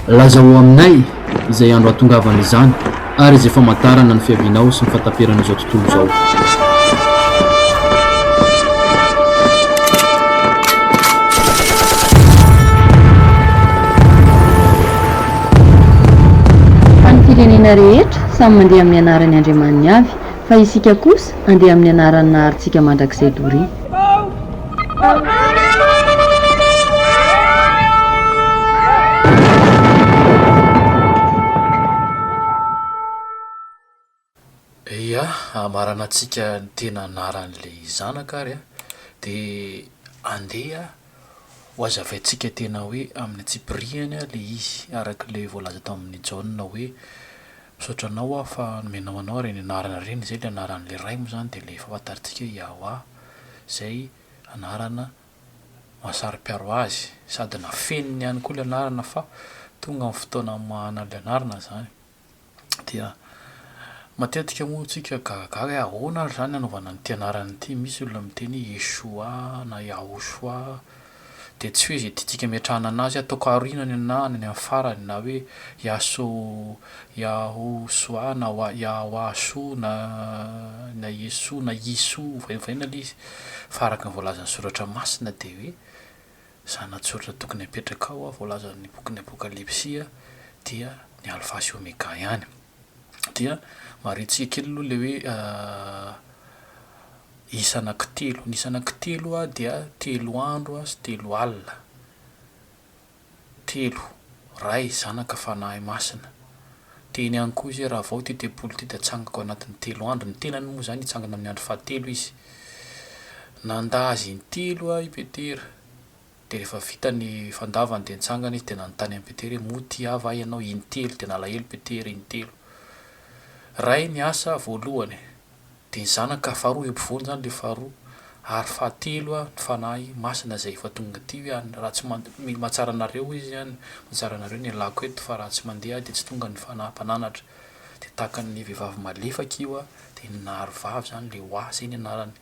Lazao aminay izay andro hahatongavany izany ary izay famantarana ny fiavianao sy ny fahataperan'izao tontolo izao. Samy mandeha amin'ny anaran'ny Andriamaniny avy, Fa isika kosa andeha amin'ny anaran'ny Naharintsika mandrakizay doria. Ia, hamaranantsika ny tena anaran'ilay Zanaka ary an, dia andeha hohazavaintsika tena hoe amin'ny antsipirihany ilay izy, araka ilay voalaza tamin'i Jaona hoe Misaotra anao aho fa nomenao anao ireny anarana ireny, izay ilay anaran'ilay Ray moa izany dia ilay efa fantarintsika hoe Yahwah, izay anarana mahasaro-piaro Azy, sady nafeniny ihany koa ilay anarana fa tonga ny fotoana hamahana an'ilay anarana izany. Dia matetika moa isika gagagaga hoe ahoana ary izany hanaovana an'ity anarana ity, misy olona miteny hoe Yeshua na Yahushua, dia tsy hoe izay tiantsika ametrahana anazy ataoko aorinany na any amin'ny farany na hoe Yahosoa na Yahoashoa na na Yesoa na Yisoa ovaiovaina ilay izy fa araka ny voalazan'ny soratra masina dia hoe zanatsoratra tokony apetraka ao voalazan'ny bokin'ny apokalypsy dia ny alfa sy omega ihany. dia maretsiha kely aloha ilay hoe isa anankitelo. Ny isa anankitelo dia telo andro sy telo alina. Telo, Ray, Zanaka, Fanahy Masina. Teny ihany koa izy hoe raha vao ity tempoly ity dia hatsangako ao anatin'ny telo andro. Ny tenany moa izany hitsangana amin'ny andro fahatelo izy. Nanda azy intelo i Petera. Dia rehefa vita ny fandavany dia nitsangana izy dia nanontany an'i Petera hoe, Moa tia ahy va ianao? Intelo. Dia nalahelo Petera intelo. Ray ny asa voalohany. Dia ny zanaka faharoa eo ampovoany izany ilay faharoa. Ary fahatelo ny Fanahy Masina izay efa tonga aty hoe, any raha tsy mandeha, mila mahatsara anareo izy any, mahatsara anareo ny ialako eto fa raha tsy mandeha aho dia tsy tonga ny Fanahy Mpananatra. Dia tahaka ny vehivavy malefaka io dia naharovavy izany ilay Wa izay ny anarany.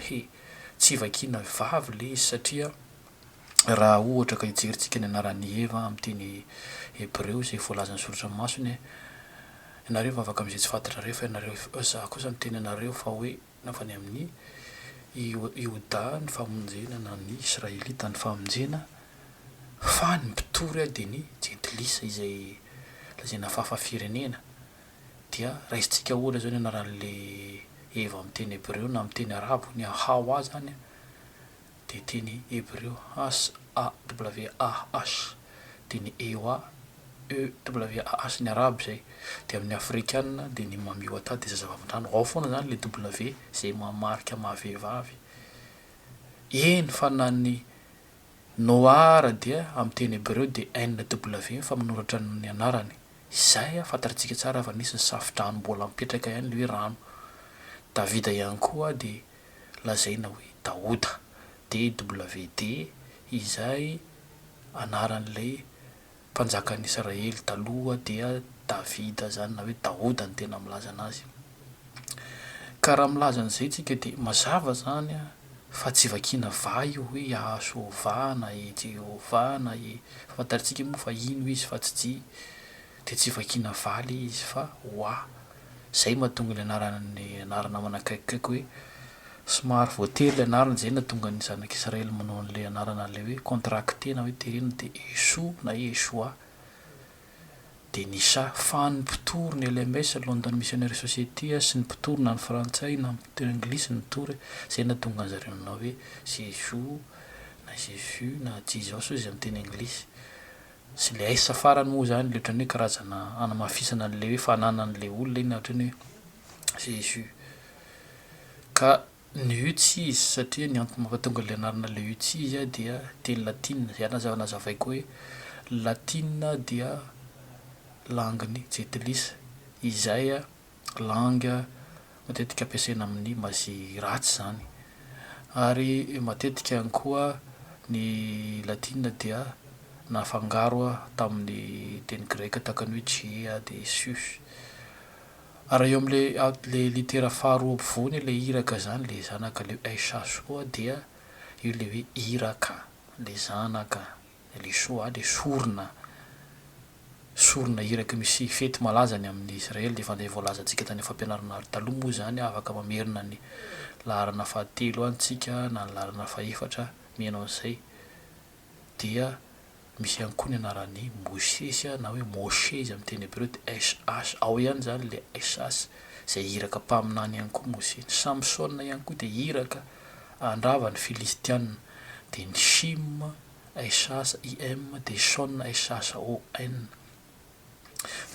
He, tsy vakiana vavy ilay izy satria raha ohatra ka hijerintsika ny anaran'i Eva amin'ny teny hebreo izay voalazan'ny soratra masina, Ianareo hivavaka amin'izay tsy fantatrareo fa ianareo, Izaho kosa miteny anareo fa hoe avy any amin'i Ioda ny famonjena na ny Israelita ny famonjena, fa ny mpitory dia ny jentilisa izay lazaina fafa-firenena. dia raisintsika ohatra izao ny anaran'ilay Eva amin'ny teny hebreo na amin'ny teny arabo, ny Hawa izany dia teny hebreo, HAWAH, dia ny Ewa, EWAH, ny arabo izay, dia amin'ny afrikana dia ny Mamiwata dia zazavavindrano, ao foana izany ilay W izay maha marika maha vehivavy, eny fa na ny Noar dia amin'ny teny hebreo dia NW ny famonoratra ny anarany. Izay a, fantarintsika tsara fa misy ny safodrano mbola mipetraka ihany ilay hoe rano. Davida ihany koa dia lazaina hoe Daoda, DWD, izay anaran'ilay Mpanjakan'ny Israely taloha dia Davida izany na hoe Daoda ny tena milaza anazy. Ka raha milaza an'izay tsika dia mazava izany fa tsy vakiana vaha io hoe Iahsoova na i Jehovah na i, fantarintsika moa fa ino izy fa tsy dia tsy vakiana vaha le izy fa wa. Zay mahatonga ilay anaran'ny anarana manakaikikaiky hoe somary voatery ilay anarana izay nahatonga ny zanak'i Israely manao an'ilay anarana an'ilay hoe contracté na hoe terena dia Yeshou na Yeshua dia Nisha fa ny mpitory ny LMS, London Missionary Society, sy ny mpitory na ny frantsay na ny mpitory anglisy nitory izay nahatonga an'zareo nanao hoe Jésus na Jesus na Jesus hoy izay amin'ny teny anglisy Tsy le aisa farany moa zany le otrany hoe karazana anamafisana anle hoe fanananle olona iny otrany hoe Jesus. Ka ny ucis satria ny antony mampatonga le anarana le ucis dia teny latina zay aza nazavaiko hoe latina dia langue ny gentilice izay langue matetika ampiasaina amin'ny mazy ratsy izany. Ary matetika ihany koa ny latina dia nafangaro tamin'ny teny greka tahaka ny hoe Gea dia Zeus. Ary eo amin'ilay litera faharoa ampovoany ilay iraka izany, ilay zanaka, ilay sh koa dia io ilay hoe Iraka, ilay zanaka. le shoah le sorona sorona iraky misy fety malaza any amin'ny Israely dia efa ilay voalazantsika tany fampianarana ary taloha moa izany afaka mamerina ny laharana fahatelo any tsika na ny laharana fahefatra miheno an'izay dia misy ihany koa ny anaran'i Mosesy na hoe Môshe izy amin'ny teny hebreo dia SH ao ihany izany le SH izay iraka mpaminany ihany koa Mosesy, Samsona ihany koa dia iraka handrava ny Filistiana, dia ny Shim, SH, IM, dia Shon, SH, ON.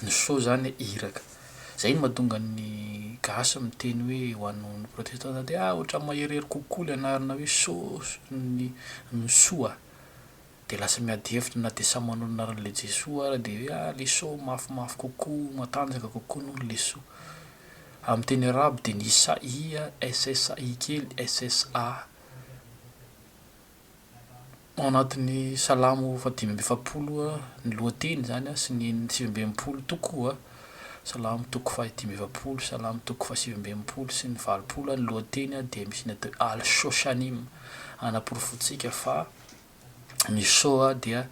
Ny Sho izany iraka. Izay no mahatonga ny gasy miteny hoe ho an'ny protestanta dia, ah, ohatran'ny maherihery kokoa ilay anarana hoe Sho, ny Soa. Dia lasa miady hevitra na dia samy manolo ny anarany le Jesoa ara dia hoe ah leso mafimafy kokoa, matanjaka kokoa noho ny leso. Amin'ny teny arabo dia ny sa ia, ssa i kely, ssa. Ao anatin'ny Salamo fahadimy amby efapolo ny lohateny izany sy ny sivy amby enimpolo toko a, Salamo toko fahadimy amby efapolo, Salamo toko fahasivy amby enimpolo sy ny valopolo a, ny lohateny dia misy ny atao hoe Al-Shoshanim, hanaporofoantsika fa ny show dia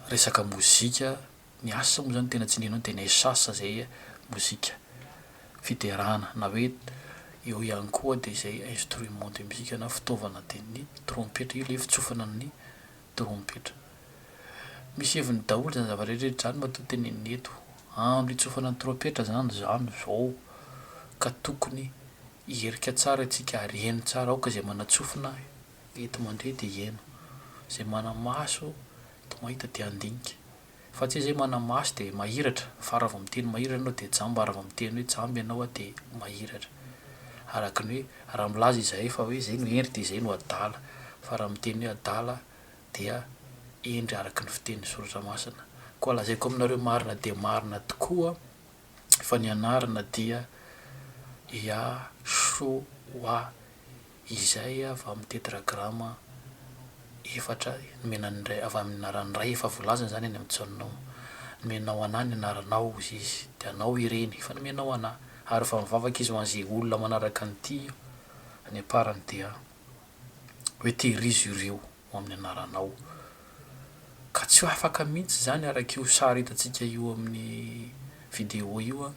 resaka mozika, ny asa moa zany tena tsindrianao de nesas zay mozika, fiderana na hoe eo ihany koa de zay instrument de musique na fitaovana de ny trompetra io le fitsofana ny trompetra. Misy heviny daholo zany zava-drehetra eto zany matoa tenenina eto andro hitsofana ny trompetra zany zany zao ka tokony hierika tsara itsika ary heno tsara aoka zay manatsofina eto mandre de heno zay manamaso de mahita de handinika fa tsy zay manamaso de mahiratra fa raha vao miteny mahiratra enao de jamba raha vao miteny hoe jamba enao a de mahiratra araky ny hoe raha milaza izahay fa hoe zay no hery de zay no adala fa raha miteny hoe adala dia hendry araka ny fitenin'ny Soratra Masina. Koa lazaiko aminareo marina dia marina tokoa fa ny anarana dia Yahshoua, izay avy amin'ny Tetragrama efatra nomena ny Ray, avy amin'ny anaran'ny Ray, efa voalazany izany eny amin'ny Tsaonoma. Nomenao an'Ahy ny anaranao, hozy Izy, dia Anao ireny, efa nomenao an'Ahy. Ary efa mivavaka Izy ho an'izay olona manaraka ny tia, ny amparany dia. hoe tehirizo ireo ho amin'ny anaranao. Ka tsy ho afaka mihitsy izany araka io sary hitantsika eo amin'ny video io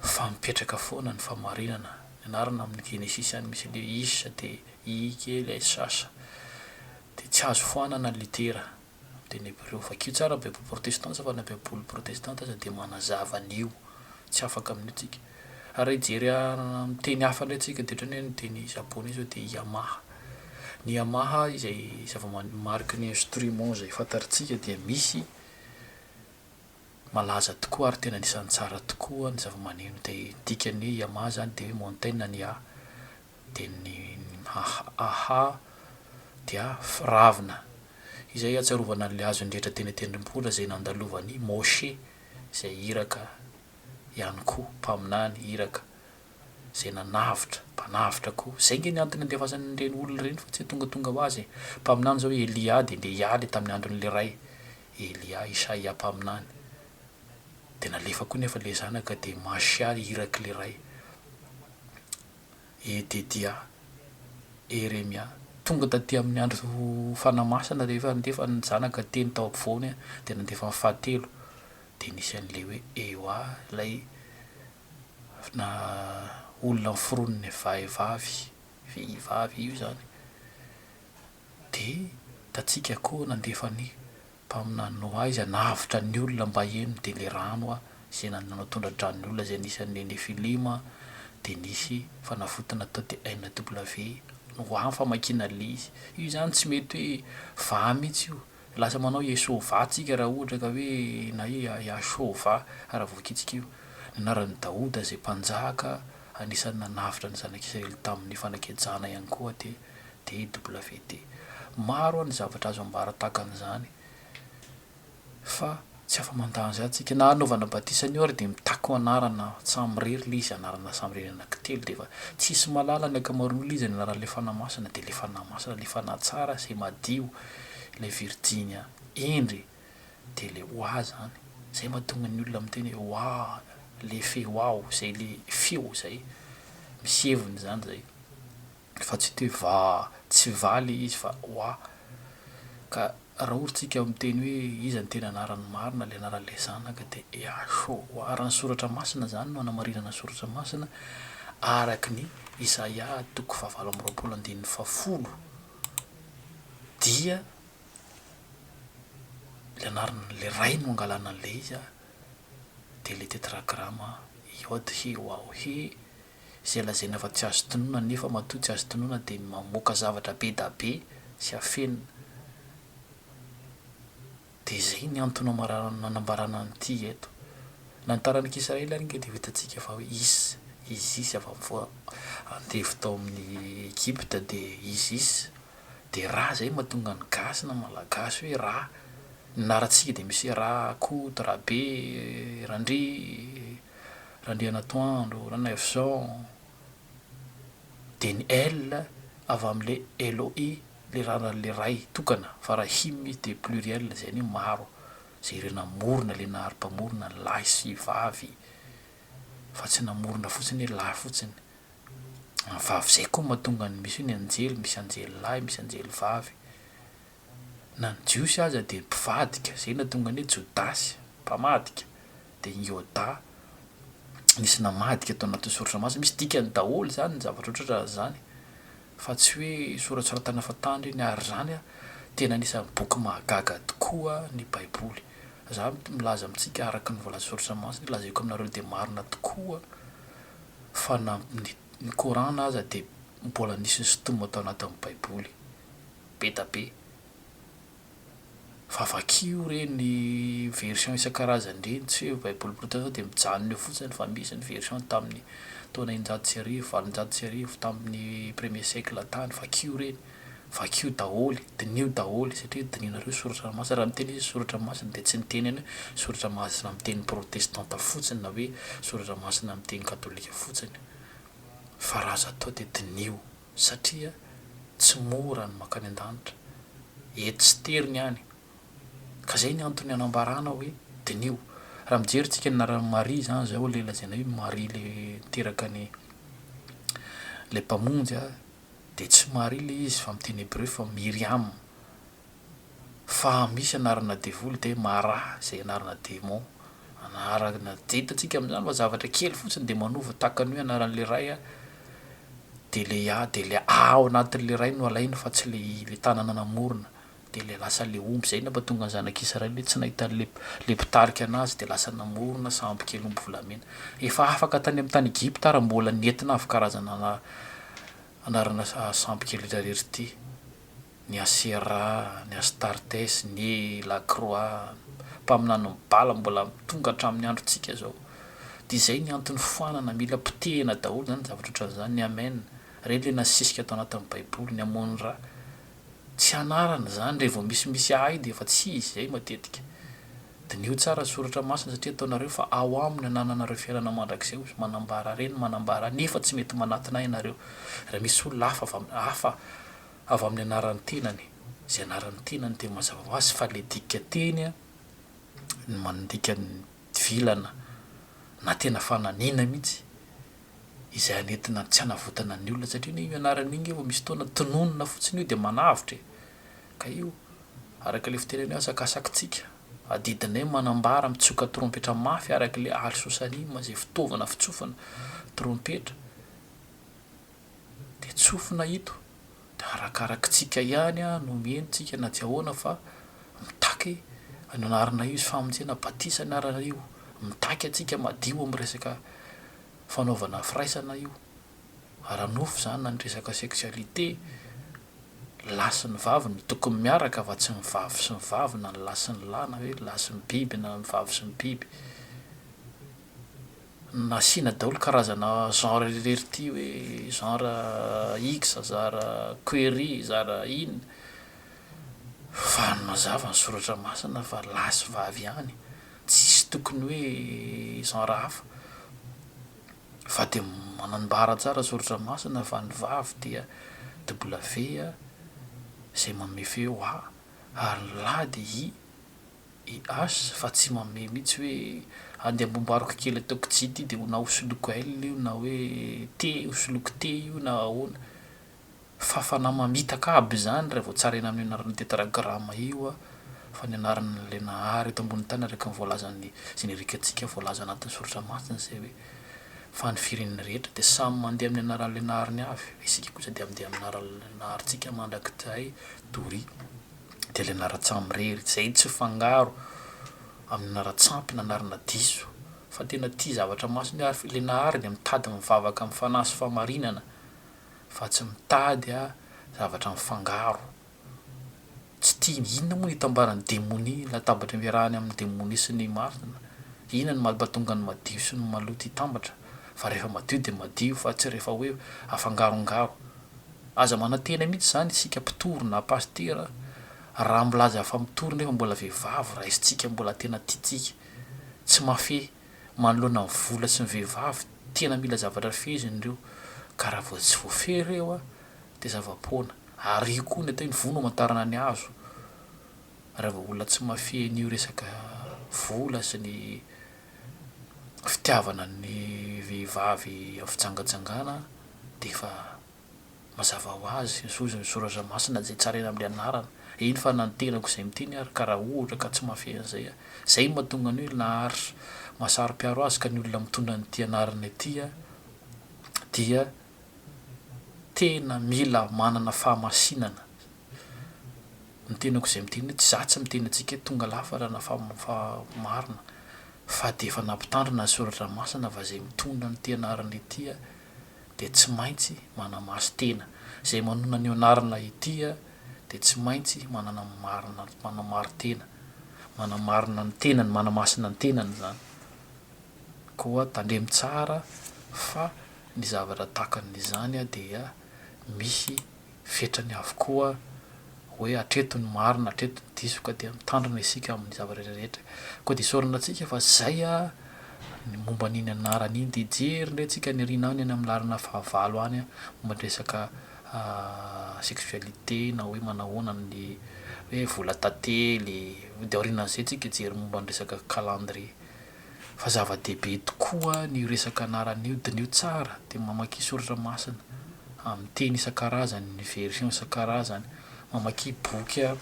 fa mipetraka foana ny fahamarinana. Ny anarana amin'ny genesisy any misy ilay is dia i kely SH dia tsy azo foanana ny litera. Dia ny Hebreo, vakio tsara Baiboly protestanta fa na Baiboly protestanta aza dia manazava an'io, tsy afaka amin'io tsika. Ary raha hijery amin'ny teny hafa indray tsika dia ohatran'ny hoe ny teny Japoney zao dia Yamaha. Ny Yamaha izay zava-man- mariky ny instrument izay fantarintsika dia misy malaza tokoa ary tena anisan'ny tsara tokoa ny zava-maneno dia ny dikan'ny hoe Yamaha izany dia hoe Mountain ny A. Dia ny Aha-Aha dia firavina izay hiatsiarovana an'ilay azon'ny rehetra teny an-tendrombohitra izay nandalovan'i Môshe izay iraka ihany koa, mpaminany, iraka izay nanavotra, mpanavotra koa. Izay ange ny antony nandefasany ireny olona ireny fa tsy hoe tongatonga ho azy e. Mpaminany izao i Elià dia ndeha hialy tamin'ny andron'ilay ray, Elià, Isaia mpaminany. Dia nalefa koa nefa ilay zanaka dia Mashia irak'ilay ray. Ededia, Eremia. Tonga taty amin'ny andro fanamasina rehefa nandefa ny zanaka teny tao ampovoany aho, dia nandefa ny fahatelo, dia nisy an'ilay hoe Eoa, ilay na olona noforonin'ny vahivavy, vehivavy io izany. Dia tatsika koa nandefa ny Mpaminany Noa izay navotra ny olona mba hihaino ny delirano izay nanao tondra-drano ny olona izay anisan'ny Nefilima dia nisy fanavotana tao dia NW, Noa ny famakiana le izy. Io izany tsy mety hoe vaha mihitsy io. Lasa manao Iesôvà tsika raha ohatra ka hoe na hoe Iahsôvà raha voakitsika io. Ny anaran'i Daoda izay mpanjaka anisan'ny nanavotra ny zanak'Israely tamin'ny fanakejana ihany koa dia DWD. Maro ny zavatra azo ambara tahaka an'izany fa tsy afa-mandà an'izany isika. Na hanaovana batisa anio ary dia mitaky ho anarana tsamirery ilay izy, anarana samirery anankitelo dia efa tsy hisy mahalala ny ankamaroan'olona iza ny anaran'ilay Fanahy Masina dia ilay Fanahy Masina, ilay Fanahy tsara izay madio, ilay Virjinia hendry dia ilay Oah izany. Izay mahatonga ny olona miteny hoe Oah, ilay feo aho, izay ilay feo izay, misy heviny izany izay. fa tsy te va tsy va le izy fa wa ka ra ory tsika miteny hoe iza ny tena anarany marina le anaran le zanaka de eaxo wa ara ny soratra masina zany no anamarinana ny soratra masina araky ny isaia toko fahavalo amby roapolo andininy fahafolo dia le anaran le ray no angalana an le izy a de le tetragrama yod he waw he izay lazaina fa tsy azo tononina nefa matoa tsy azo tononina dia ny mamoaka zavatra be da be sy afenina dia izay ny antona marary nanambarana an'ity eto na ny taranak'i Israely ary nge dia ho hitantsika fa is Isis avy amin'ny voa andevo tao amin'ny Egypta dia Isis dia ra izay mahatonga ny gasy na malagasy hoe ra ny anarantsika dia misy hoe ra Koto, Rabe, Randria, Randrianatoandro Ranaivoson, Deny El avy amin'ilay Elohi ilay raran'ilay Ray tokana fa raha Him izy dia pluriel izay anie maro izay ireo namorona ilay Nahary Mpamorona ny lahy sy vavy fa tsy namorona fotsiny hoe lahy fotsiny vavy izay koa mahatonga ny misy hoe ny anjely misy anjely lahy misy anjely vavy na ny Jiosy aza dia mpivadika, izay no nahatonga ny hoe Jodasy, mpamadika, dia ny Iodà, nisy namadika tao anatin'ny Soratra Masina. Misy dikany daholo izany ny zavatra ohatrohatran'ny izany, fa tsy hoe soratsoratana fahatany ireny, ary izany tena anisan'ny boky mahagaga tokoa ny Baiboly. Izaho milaza amintsika araka ny voalazan'ny Soratra Masina hoe, Lazaiko aminareo dia marina tokoa fa na ny ny Kor'ana aza dia mbola nisy nisitomina tao anatin'ny Baiboly. Betabe. Fa vakio reny version isan-karazany reny, tsy hoe baiboly protesta sao dia mijanona eo fotsiny fa misy ny version tamin'ny taona eninjato sy arivo, valonjato sy arivo, tamin'ny premier siècle tany, vakio reny, vakio daholo, diniho daholo satria dinihinareo soratra masina, raha miteny izy hoe soratra masina dia tsy niteny any hoe soratra masina amin'ny teny protestanta fotsiny na hoe soratra masina amin'ny teny katolika fotsiny fa raha azo atao dia diniho. satria tsy mora ny mankany an-danitra, eto sy tery ny any, ka zay ny antony anambarana hoe diniho, raha mijery tsika ny anaran'i Maria zany zao le lazaina hoe Maria le niteraka ny le mpamonjy a, de tsy Maria le izy fa amin'ny teny hebreo fa Miriam. fa misy anarana devoly dia maraha izay anarana démon anarana dia hitantsika amin'izany fa zavatra kely fotsiny dia manova tahaka ny hoe anaran'ilay ray a dia ilay a dia ilay a ao anatin'ilay ray no alainy fa tsy ilay ilay tanana namorona dia ilay lasa ilay omby izay no mahatonga ny zanak'israely hoe tsy nahita an'ilay ilay mpitarika anazy dia lasa namorona sambo kely omby volamena efa afaka tany amin'ny tany Egypta ary mbola nentina avy karazana Anarana sampy kely ry rery ity, ny Asera, ny Astartes, ny Lakroa, mpaminanin'ny Bala mbola tonga hatramin'ny androntsika izao. Dia izay ny antony foanana, mila potehina daholo izany zavatra ohatran'izany, ny Amen, ireny ilay nasisika tao anatin'ny Baiboly, ny Amon-Ra. Tsy anarana izany, rehefa vao misimisy ahidy efa tsy izy izay matetika. Diniho tsara ny soratra masina satria ataonareo fa ao aminy anananareo fiainana mandrakizay hoy manambara reny manambara nefa tsy mety manatona ahy ianareo raha misy olona hafa avy amin'ny hafa avy amin'ny anaran'ny tenany izay anaran'ny tenany dia mazava ho azy fa ilay dika teny no mandika ny vilana na tena fananina mihitsy izay hanentina tsy hanavotana ny olona satria anie io anarana io nge vao misy fotoana tononina fotsiny io dia manavotra e! Ka io, araka ilay fitenen'ny hoe asakasakitsika, adidinay manambara mitsoka trompetra mafy araka ilay alsosanima izay fitaovana fitsofana trompetra dia tsofina ito dia arakarakitsika ihany no omeny tsika na tsy ahoana fa mitaky ny anaranay io izy famonjena batisa ny anaranay io mitaky antsika madio amin'ny resaka fanaovana firaisana io ara-nofo zany na ny resaka sexualité, lahy sy ny vavy no tokony miaraka fa tsy ny vavy sy ny vavy na ny lahy sy ny lahy na hoe lahy sy ny biby na ny vavy sy ny biby. Nasiana daholo karazana genre irery ity hoe genre X, zara query, zara in, fa mazava ny soratra masina fa lahy sy vavy ihany, tsisy tokony hoe genre hafa. Fa dia manambara tsara soratra masina fa ny vavy dia W izay manome feo A ary ny lahy dia I, IH fa tsy manome mihitsy hoe andeha ambombariko kely ataoko J ity dia na ho soloiko L io na hoe T ho soloiko T io na ahoana. Fafana mamitaka aby izany raha vao tsaraina amin'io anaran'ny tetragrama io an, fa ny anaran'ilay Nahary eto ambonin'ny tany araka ny voalazan'ny jenerikantsika voalaza anatin'ny soratra masina izay hoe, Fa ny firenena rehetra dia samy mandeha amin'ny anaran'ilay Nahariny avy, fa isika kosa dia mandeha amin'ny anaran'ilay Naharintsika mandrakizay, doria. Dia ilay anaran-tsamirery, izay tsy fangaro amin'ny anaran-tsampy na anarana diso, fa tena tia zavatra masina io ary ilay Nahary dia mitady mivavaka amin'ny fanahy sy fahamarinana, fa tsy mitady a zavatra mifangaro tsy tiany inona moa ny itambaran'ny demonia latabatra iarahany amin'ny demonia sy ny marina inona no mampatonga ny madio sy ny maloto hitambatra fa rehefa madio dia madio fa tsy rehefa hoe afangarongaro aza manantena mihitsy izany isika mpitory na pasitera raha milaza fa mitory nefa mbola vehivavy raisintsika mbola tena tiantsika tsy mahafehy manoloana ny vola sy ny vehivavy tena mila zavatra feheziny ireo ka raha vao tsy voafehy ireo a dia zava-poana ary io koa ny atao hoe ny voa no amantarana ny hazo raha vao olona tsy mahafehy an'io resaka vola sy ny fitiavana ny vehivavy amin'ny fijangajangana dia efa Mazava ho azy, ny zozy ny soratra masina izay tsaraina amin'ny anarana, eny fa na ny tenako izay miteny ary ka raha ohatra ka tsy mahafehy an'izay aho, izay no mahatonga ny hoe naharitra, mahasaro-piaro azy ka ny olona mitondra an'ity anarana ity dia tena mila manana fahamasinana ny tenako izay miteny hoe tsy za tsy miteny antsika hoe tonga lafatra na fa marina fa dia efa nampitandrina ny soratra masina fa izay mitondra an'ity anarana ity dia tsy maintsy manamaso tena, izay manonona ny anarana ity a, dia tsy maintsy manana ny marina, manamari-tena, manamarina ny tenany, manamasina ny tenany izany. Koa tandremo tsara fa ny zavatra takan'izany dia misy. fetrany avokoa hoe hatreto ny marina hatreto ny diso ka dia mitandrina isika amin'ny zava-drehetra rehetra koa dia isaorana antsika fa izay a ny momba an'iny anarana iny dia hijery indray tsika any aoriana any any amin'ny laharana fahavalo any momba ny resaka sexualité na hoe manahoana ny hoe vola tantely dia aorianan'izay tsika hijery momba ny resaka calendrier Fa zava-dehibe tokoa ny resaka anaran'io dina io tsara dia mamakia soratra masina amin'ny teny isan-karazany ny version isan-karazany mamakia boky a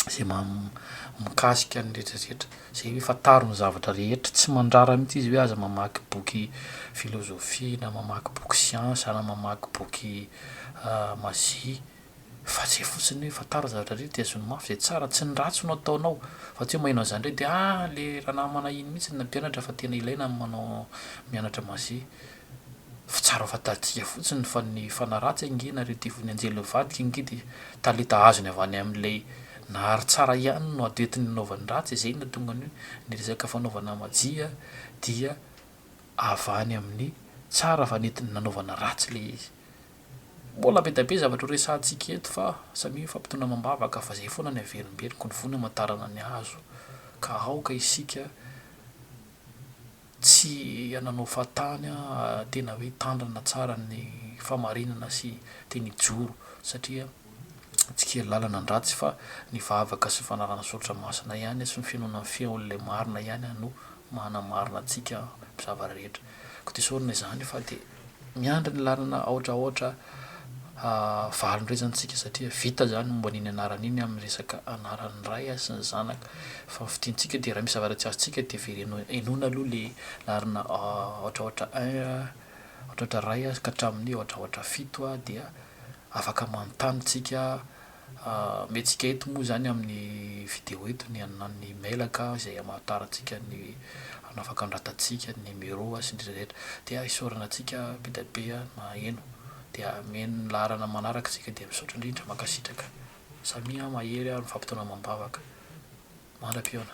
zay mikasika ny retraretra zay hoe fantaro ny zavatra rehetra tsy mandrara mihitsy izy hoe aza mamaky boky filozofia na mamaky boky siansa na mamaky boky mazia fa zay fotsiny hoe fantaro ny zavatra rehetra de zony mafy zay tsara tsy ny ratsy no ataonao fa tsy hoe maheno an'izany ndray de ah le ranamana iny mihitsy no nampianatra fa tena ilaina ny manao mianatra maze fa tsara ho fantatsika fotsiny fa ny fanahy ratsy ange na reo devoly anjely mivadika ange de talenta azony avy any amin'ilay nahary tsara ihany no ady entiny hanaovany ratsy zay no nahatonga ny hoe ny resaka fanaovana majia dia avy any amin'ny tsara fa nentiny nanaovana ratsy le izy Mbola be dia be zavatra ho resahantsika eto fa samia mifampitondra amam-bavaka fa izay foana ny haverimberiko ny voa ny hamantarana ny hazo ka aoka isika tsy hananao fahatany tena hoe hitandrina tsara ny fahamarinana sy tena hijoro satria tsy kely lalana ny ratsy fa ny vavaka sy ny fanarahana ny soratra masina ihany sy ny finoana ny feon'ilay marina ihany no mahanamarina antsika amin'ny zavatra rehetra. Koa dia isaorana izany fa dia. Miandry ny lalana aotraotra valindrezantsika satria vita zany momba iny anarana iny amin'ny resaka anaran'ny ray sy ny zanaka fa ny fidintsika dia raha misy zavatra tsy azontsika dia veleno henoina aloha le lalana aotraotra un aotraotra ray ka hatramin'ny aotraotra fito dia afaka manontany tsika Ameantsika eto moa izany amin'ny video eto ny an'ny mailaka izay hamantarantsika ny hanafaka ny ratantsika, ny numero sy ny rehetra. Dia isaorana antsika bedabe naheno. Dia ameno ny laharana manaraka isika dia misaotra indrindra. Mankasitraka. Samia mahery ary mifampitaona amam-bavaka. Mandra-pihaona.